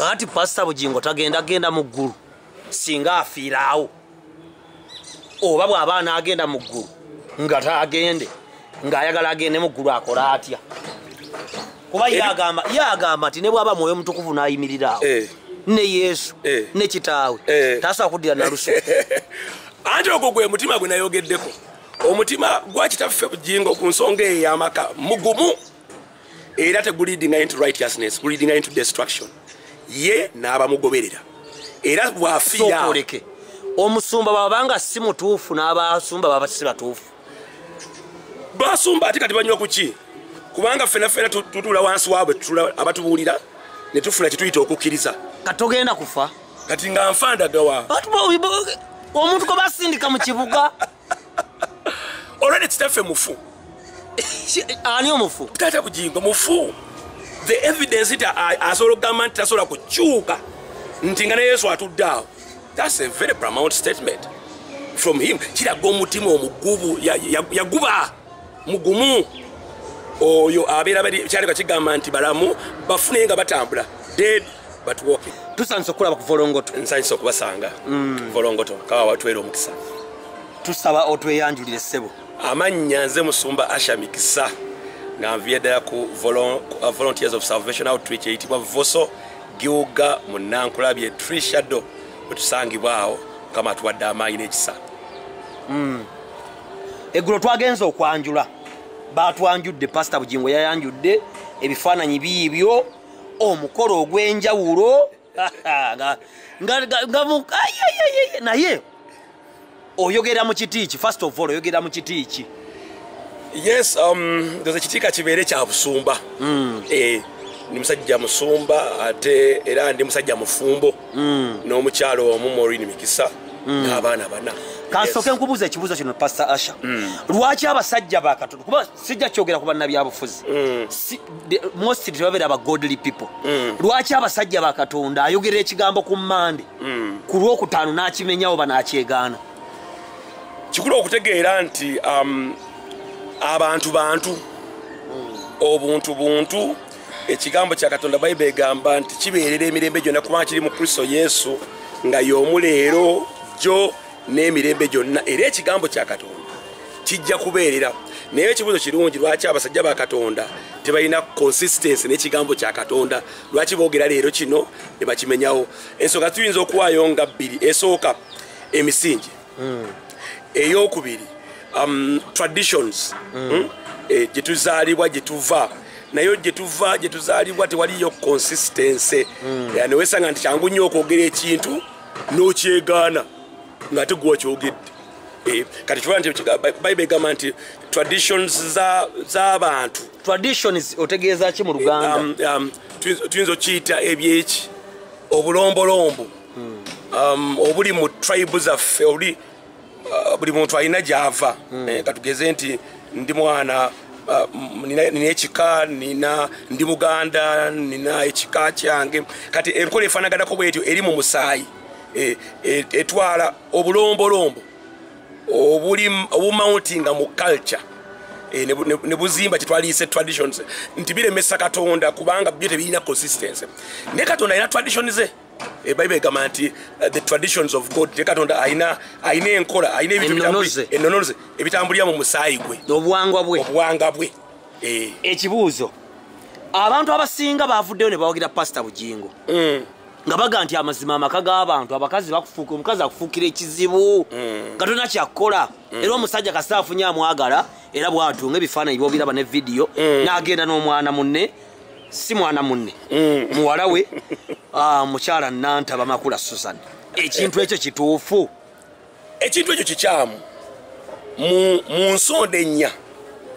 kakati pasita bugingo tagenda genda mu ggulu singa afiiraawo oba bw'aba anaagenda mu ggulu nga taagende ng'ayagala agende mu ggulu akole atya kuba yagamba yagamba nti ne bwaba mwoyo mutukuvu n'ayimiriraawo eh. ne yesu eh. ne kitaawe eh. tasobola kuddira nalusu anti ogwo gwe mutima gwe nayogeddeko omutima gwa kitaffe bujingo ku nsonga eyo yamaka mugumu era teguleadinga into righteousness guleadinga into destruction ye n'abamugoberera era bwafiyaoleke omusumba babanga si mutuufu n'abasumba baba si batuufu basumba ate kati banywa kuki kubanga ffena ffena tutuula wansi waabwe abatubuulira ne tufuna kyetuyita okukkiriza kati togenda kufa kati nga nfa ndagawa omuntu kwe basindika mu kibuga olwene kitaffe mufu ani omufu taata bujingo mufu the evidence nti asobola okugamba nti tasobola kukyuka nti nga ne yesu atudde awo thats a very pramount statement from him kiraga omutima omugubu yaguba ya, ya mugumu oyo abeera kyaleka kigamba nti balamu bafune nga batambula dead but walking tusanise okulaba ku volongoto nsanise okubasanga mm. volongoto kawa watwera omukisa tusaba otweyanjulire ssebo amannya nze musumba asha mikisa nga nviye ddala ku uh, volunteers of salvation outreach eyitibwa voso giwuga mu nankulabye tree shadow wetusangibwawo mukama atuwadde amaanyi n'ekisa mm. eggulo twagenza okwanjula baatwanjudde pasita bugingo yayanjudde ebifaananyi biibyo omukolo ogw'enjawulo naye oyogera mu kiti ki first of all oyogera mu kiti ki yes um, doza kitiika kibeere kya busumba hmm. eh, ndi musajja musumba ate era ndi musajja mufumbo mm. n'omukyalo omu morin mikisa mm. n'abaana bana kansooke nkubuuza ekibuuzo kino pastor asha mm. lwaki abasajja bakatonda kuba sijja kyogera ku bannabyabufuzi mm. si, most tebabeera ba godly people mm. lwaki abasajja bakatonda ayogera ekigambo ku mande mm. ku lwokutaano n'akimenyawo banakyegaana kikulu okutegeera nti um, abantu bantu mm. obuntu buntu ekigambo kya katonda bayiba egamba nti kibeerera emirembe gyonna kubanga kiri mu kristo yesu nga y'omu leero jjo n'emirembe gyonna era ekigambo kya katonda kijja kubeerera naye ekibuuzo kirungi lwaki abasajja ba katonda tebalina consistency n'ekigambo kya katonda lwaki boogera leero kino ne bakimenyawo ensonga tuyinza okuwaayo nga bbiri esooka emisingi mm. eyokubiri um, traditions mm. mm, eh, gyetuzaalibwa gyetuva naye gyetuva gyetuzaalibwa tewaliyo consistency mm. eh, newesanga nti kyangu nnyo okwogera ekintu nokyegaana nga ate gwe wakyogedde eh, kati kiba nti bible egamba nti traditions z'abantu za traditions otegeeza ki mu luganda um, um, tuyinza okiyita ebyeki obulombolombo hmm. um, obuli mu tribe zaffe obuli uh, buli muntu alina gyava hmm. eh, katugeze nti ndi mwana uh, nina ekika nina ndi muganda nina ekika kyange kati enkola efanaganako bwetyo eri mu musaayi eh, eh, etwala obulombolombo obumountinga mu culture Eh, ne buzimba kyetwaliyise traditions nti biremesa katonda kubanga byo tebirina consistency ne katonda alina tradition ze ebayibuli eh, egamba nti eh, the traditions of god te katonda alina alina enkola alina ebintuenonoze ebitambulira mu musaayi gwe obuwangwa bwe obuwanga bwe eh. ekibuuzo abantu abasinga bavuddeyo ne bawagira pasita bugingo mm. nga baga nti amazima amaka g'abantu abakazi bakufuuka omukazi akufuukira ekizibu mm. nga tolina kyakukola mm. era omusajja kasita afunye amwagala era bwatunga ebifaananyi byobiraba ne vidiyo n'agenda n'omwana munne si mwana munne mm. muwala we ah, mukyala nanta bamakula susan ekintu ekyo kituufu ekintu ekyo kikyamu mu nsonda ennya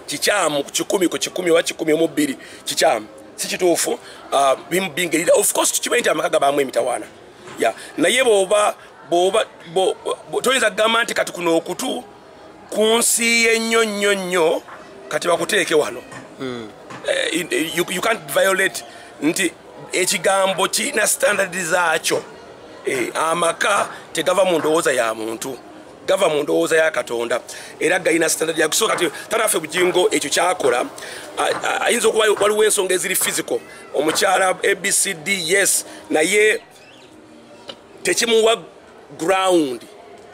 kikyamu ku kikumi ku kikumi oba kikumi omu bbiri kikyamu si kituufu ah, bingerira ofcourse tukimanyi nti amaka gabaamu emitawaana naye bwoba bwoba toyinza kugamba nti kati kuno okutu ku nsi ye nnyo nnyo nnyo kati bakuteeke wano hmm. eh, you can't violate nti ekigambo kirina standard zaakyo eh, amaka tegava mu ndowooza ya muntu gava mu ndowooza ya katonda era galina standard yakusooka ti tanaffe bugingo ekyo kyakola ayinza okuba waliwo ensonga eziri physical omukyala abcd yes naye tekimuwa ground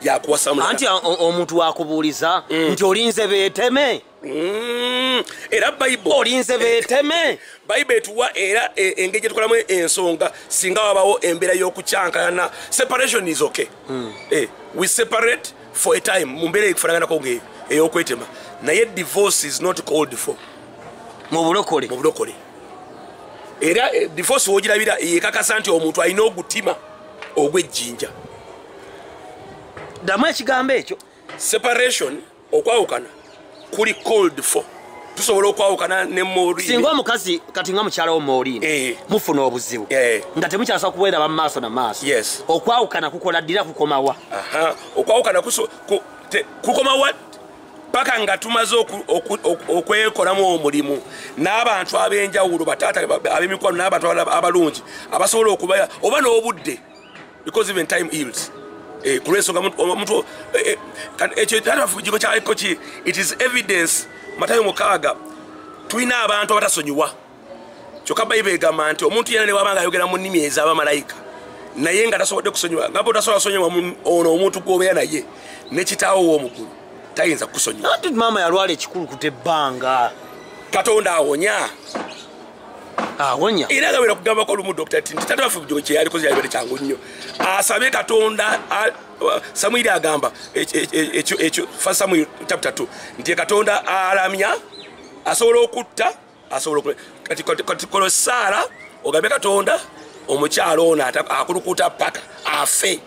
yakuwasaanti omuntu wakubuuliza mm. nti olinze beteme mm. era bible olinze beteme bible etuwa era e, engeri gyetukolamu ensonga singa wabawo embeera y'okukyankalana separation is okay mm. eh, we separate for a time mu mbeera ekufananganako ngaeyo eyokwetema naye divorce is not called for mu bulokole era eh, divorce wogirabira yekakasa nti omuntu alina ogutima ogwejjinja ddamu ekigambo ekyo separation okwawukana kuli cold for tusobola okwawukana ne morin singa omukazi kati nga mukyala wo morin eh. mufuna obuzibu eh. nga temukyasa kubeera ba maaso na maaso yes. okwawukana kukola ddira kukomawa okwawukana kukomawa paka nga tumaze okwekolamu omulimu n'abantu ab'enjawulo bataata ab'emikwano n'abantu abalungi abasobola okubaya oba n'obudde because even time yields eh, kulwensonga omuntu eh, eh, ekyo tatafugiko kyaliko ki it is evidence matayo mukaaga tulina abantu abatasonyiwa kyoka bayiba egamba nti omuntu yena newaba nga ayogera mu nnimi ezaba malayika naye nga tasobodde kusonyiwa nga botasobola kusonyiwa ono omuntu gwobeera naye nekitaawo womukulu tayinza kukusonyiwati maama yalwala ekikulu kuta ebbanga katonda awonya awonya era nga bera kugambako olumu dokita ti nti tata wafe kyeyalikoze yalibere kyangu nnyo asabe katonda samwiri agamba ekyo fa samwiri chapta t nti katonda alamya asobola okutta asobola okule kati kati kola saala ogambe katonda omukyala ono akulukuta paka afe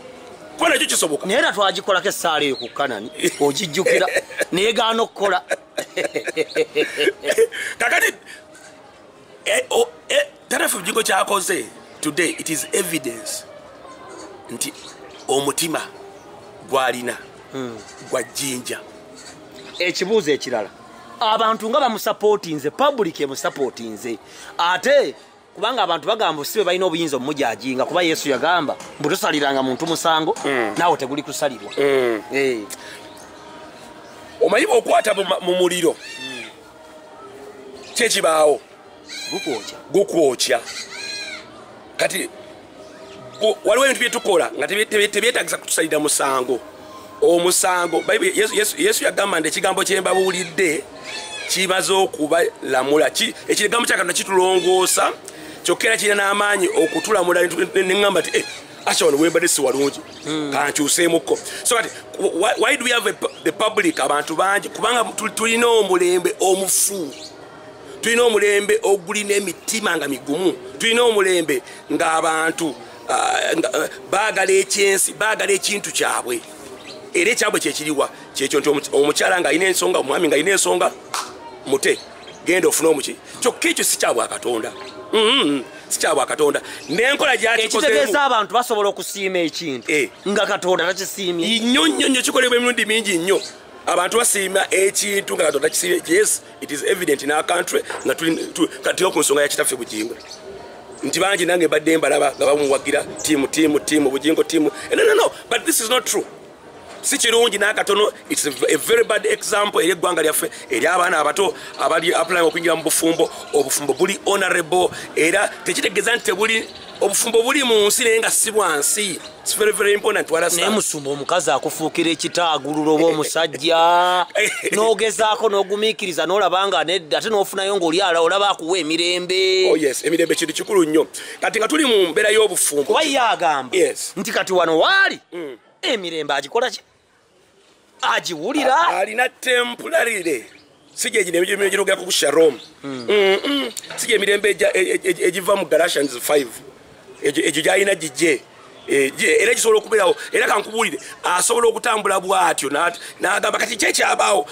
kuba nakyo kisoboka naye era twagikolako essaala eyo ku kanani ogijjukira naye gaana okukola kakati eh, oh, eh, tarafu bjigo kyakoze today it is evidence nti omutima gwalina hmm. gwa jjinja ekibuuzo ekirala abantu nga bamusapotinze public emusapotinze ate kubanga abantu bagamba sibe balina obuyinza omumujajinga kuba yesu yagamba mbutusaliranga muntu musango mm. naawe teguli kusalirwa mm. eh. omanyi bwokwata mu muliro mm. kyekibaawo gukwokya kati waliwo ebintu byetukola nga tebyetagisa kutusalira musango omusango yesu yagamba nti ekigambo kyembabuulidde kimaze okubalamula ekigambo kyakatonda kitulongoosa kyokka era kirina n'amaanyi okutulamula neŋamba ti eh, asha wano wembadde si walungi hmm. kankyuseemukko so kati why do we have the public abantu bangi kubanga tulina omulembe omufu tulina omulembe ogulina emitima nga migumu tulina omulembe ng'abantu ah, eh, baagala ekyensi baagala ekintu kyabwe era ekyabwe kyekiriwa kyekyo nti omukyala ng'alina ensonga omwami ng'alina ensonga mute genda ofune omuki kyokka ekyo si kyabwa katonda mm-hmm. si kyabwa katonda nenkola gyakitegeeza abantu basobola okusiima ekintu eh. nga katonda takisiimye nnyo nnyo nnyo kikolebwa emirundi mingi nnyo abantu basiima ekintu nga katonda kisiimye yes It is evident in our country nga tuli kati ku nsonga ya kitaffe Bujingo nti bangi nange mbadde mbalaba nga bamuwagira tiimu tiimu tiimu Bujingo tiimu eh, no, no, no. but this is not true si kirungi n'akatono its a very bad example eri eggwanga lyaffe eri abaana abato abali applying okuyingira mu bufumbo obufumbo buli honorable era tekitegeeza nti tebuli obufumbo buli mu nsi naye nga si bwa nsi naye musumba omukazi akufuukira ekitaagulula oba omusajja n'ogezaako n'ogumiikiriza n'olaba nga nedda ate n'ofunayo ng'oli ala olaba akuwa emirembe oh, emirembe kintu kikulu nnyo kati nga tuli mu mbeera y'obufumbo kuba ye agamba nti kati wano waali mm. emirembe agikola ki agiwulira alina tempularire si gyegino emirembe egirogera ku sharom hmm. si gyemirembe e, e, e, egiva mu galatians 5 egyo gyalina gigye Eh, era kisobola okubeerawo era kankubuulire asobola okutambula bwatyo n'agamba kati kyekyabaawo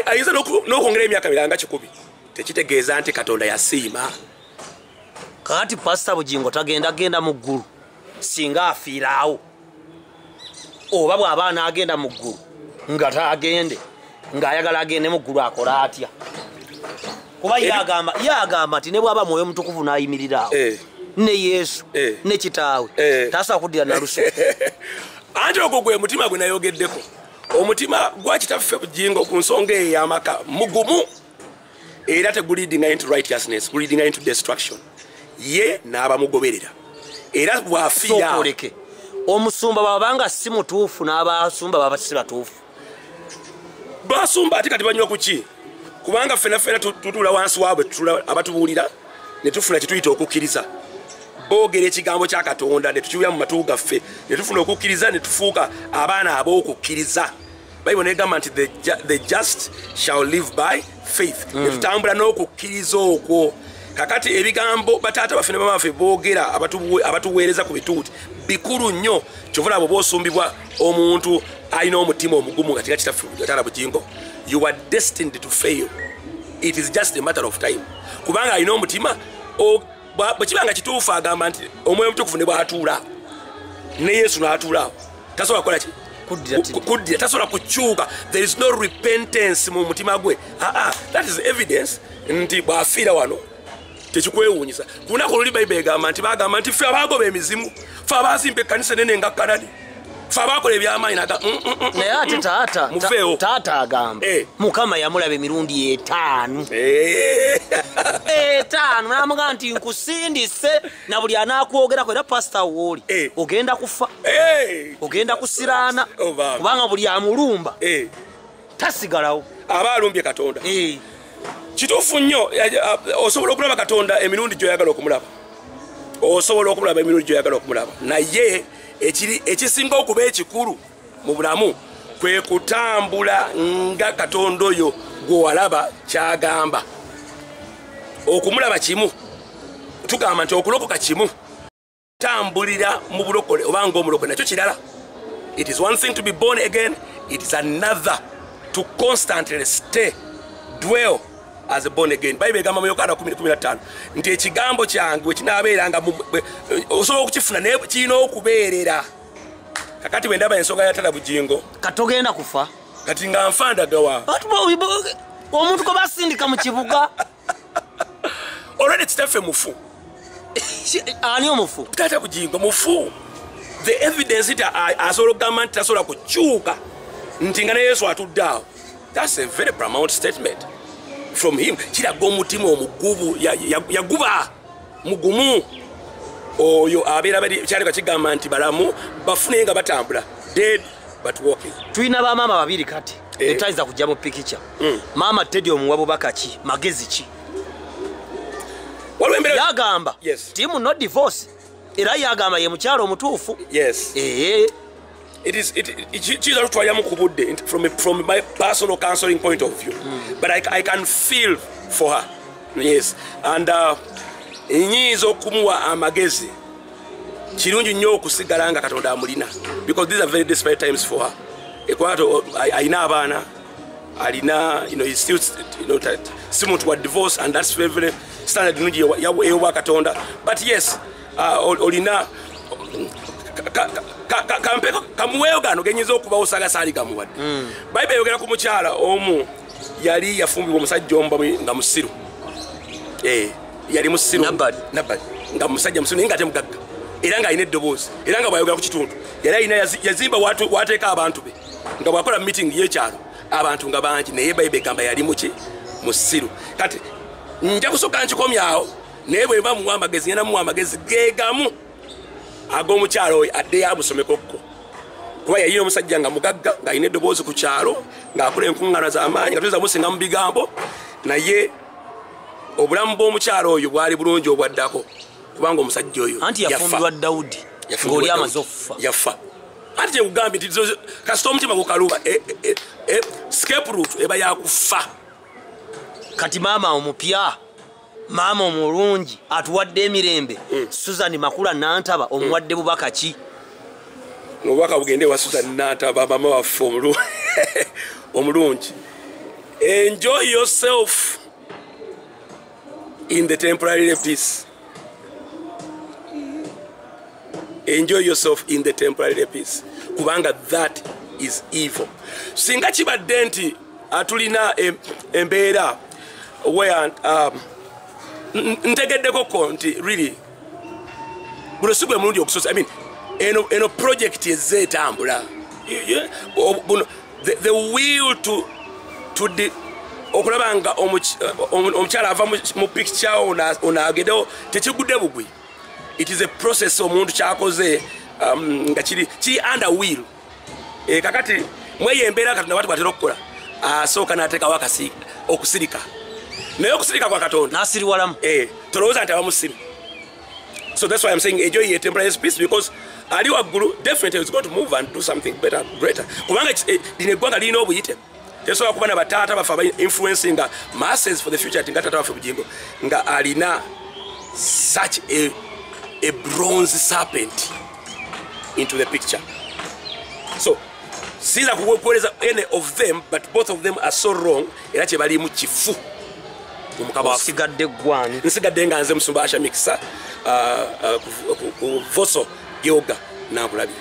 ayinza n'okwongera emyaka miranga kikumi tekitegeeza nti katonda yasiima kati pasita bugingo tagenda genda mu ggulu singa afiiraawo oba bw'aba anaagenda mu ggulu nga taagende ng'ayagala agende mu ggulu akole atya kuba yagamba yagamba nti ne bwaba mwoyo mutukuvu nayimirira awo eh. ne yesu eh. ne kitaawe eh. tasobola kuddira nalusu anti ogwo gwe mutima gwe nayogeddeko omutima gwa kitaffe bujingo ku nsonga eyo yamaka mugumu era teguleadinga into righteousness guleadinga into destruction ye n'abamugoberera era bwafiyaoleke omusumba babanga si mutuufu n'abasumba baba si batuufu basumba ate kati banywa kuki kubanga ffena ffena tutuula wansi waabwe abatubuulira ne tufuna kyetuyita okukkiriza boogera ekigambo kya katonda ne tukiwulira mu matu gaffe ne tufuna okukkiriza ne tufuuka abaana ab'okukkiriza bayibuli negamba nti the just shall live by faith mm. etutambula n'okukkiriza okwo kakati ebigambo bataata baffe ne bamaffe boogera abatuweereza ku bituuti bikulu nnyo kyovula abo bosumbibwa omuntu alina omutima omugumu nga tekakitafutala bugingo you are destined to fail it is just a matter of time kubanga alina omutima bwe kiba nga kituufu agamba nti omwoyo omutukuvu ne bwatuula ne yesu n'atuulaawo tasobola kukola ki kuddira tasobola kukyuka there is no repentance mu mutima gwe aa ah, ah, that is evidence nti bw'afiira wano tekikwewuunyisa ku lunaku oluli bayibuli egamba nti bagamba nti ffe abaagoba emizimu ffe abaazimba ekkanisa nene nga kanani fe abakola ebyamaanyi naga mm, mm, mm, naye ate taata muveewo taata agamba eh. mukama yamulaba emirundi etaanu eh. etaanu namuga nti nkusindise na buli anakwogerako era pasita wooli eh. ogenda kufa ogenda kusiraana oh, kubanga buli amulumba tasigalawo aba alumbye katonda eh. kituufu nnyo osobola okulaba katonda emirundi gyoyagala okumulaba osobola okumulaba emirundi gyoyagala okumulaba naye ekisinga okuba ekikulu mu bulamu kwe kutambula nga katonda oyo gwewalaba kyagamba okumulaba kimu tugamba nti okulokoka kimu tambulira mu bulokole oba ngaomulokole nakyo kirala it is one thing to be born again it is another to constantly stay dwell as a born again bible egamba mu yokaana 15 nti ekigambo kyange wekinaabeeranga osobola okukifuna naye kirina okubeerera kakati bwe ndaba ensonga yatala bugingo katogenda kufa kati nga nfandagawa omuntu gwe basindika mu kibuga olwene kitaffe mufu ani omufu taata bujingo mufu the evidence nti asobola okugamba nti tasobola kukyuka nti nga ne yesu atudde awo thats a very pramount statement from him kiraga omutima omugubu yaguba ya, ya mugumu oyo abeera kyaleka kigamba nti balamu bafune nga batambula dead but walking tulina bamaama babiri kati eh. etayinza kujja mu pikica hmm. maama tedi omuwa bubaka ki magezi ki yagamba timu no divorce era yagamba ye mukyalo omutuufu yes ee eh. it is it kiyinza tutwaliramu ku budde from, from my personal counseling point of view mm. but I, i can feel for her yes and uh, nyinza okumuwa amagezi kirungi nnyo okusigala nga katonda amulina because these are very desperate times for her ekwato alina abaana alina you know, he's still, you know, si muntu wa divorce and that's very, very standard nungi eyobwa katonda but yes ah, olina kampeko kamuweeyo gano genyinza okubawo saga saali gamuwadde hmm. bayibuli eyogera ku mukyala omu yali yafumbibwa omusajja omu nga musiru eh, yali musiru nga musajja musiru naye nga ate mugagga era ng'alina eddoboozi era nga bwayogera ku kitundu yali alina yazimba wateeka abantu be nga bwakola mu meeting yekyalo abantu nga bangi naye bayibuli egamba yali muki musiru kati nja kusooka nkikomyawo naye bweba muwa amagezi ngenda muwa amagezi gegamu ag'omukyalo oyo addeyo amusomekokko kuba yayina omusajja nga mugagga ng'alina eddoboozi ku kyalo ng'akola enkuŋŋana z'amaanyi nga tuyinza musinga mu bigambo naye obulamu bw'omukyalo oyo bwali bulungi obwaddako kubanga omusajja oyo anti yafumbirwa dawudi ng'oli amaze okufa yafa anti kyekugambye nti kasita omutima gukaluba e, e, e, e scape root eba yakufa kati maama omupya maama omulungi atuwadde emirembe mm. susan makula nantaba omuwadde mm. bubaka ki obubaka bugende wa susan nantaba maama waffe omulungi enjoy yourself in the temporary peace enjoy yourself in the temporary peace kubanga that is evil singa kibadde nti uh, tulina embeera where um, ntegeddeko ko nti really guno si gwe mulundi ogusosa i mean eno, eno project ezze etambula the, the will to, to de, okulaba nga omukyala ava mu picture onagedewo tekigudde bugwi it is a process omuntu kyakoze um, nga kiri under will eh, kakati mweyo embeera katonda wati bwatera okukola asooka natekawo akasi okusirika naye okusirika kwa katonda nasiriwalamu eh, tolowooza nti abamusiru so that's why i'm saying enjoy your temporary peace because ali waggulu definitely is going to move and do something better greater kubanga eh, lino eggwanga lirina obuyite tesobola kuba na bataata baffe aba influencinga masses for the future ti nga taata waffe bugingo nga alina such a, a bronze serpent into the picture so siyinza kukuwereza any of them but both of them are so wrong era kyebalimu kifu nsigadde nga nze musumba asha mikisa uh, uh, ku voso gyoga nakulabira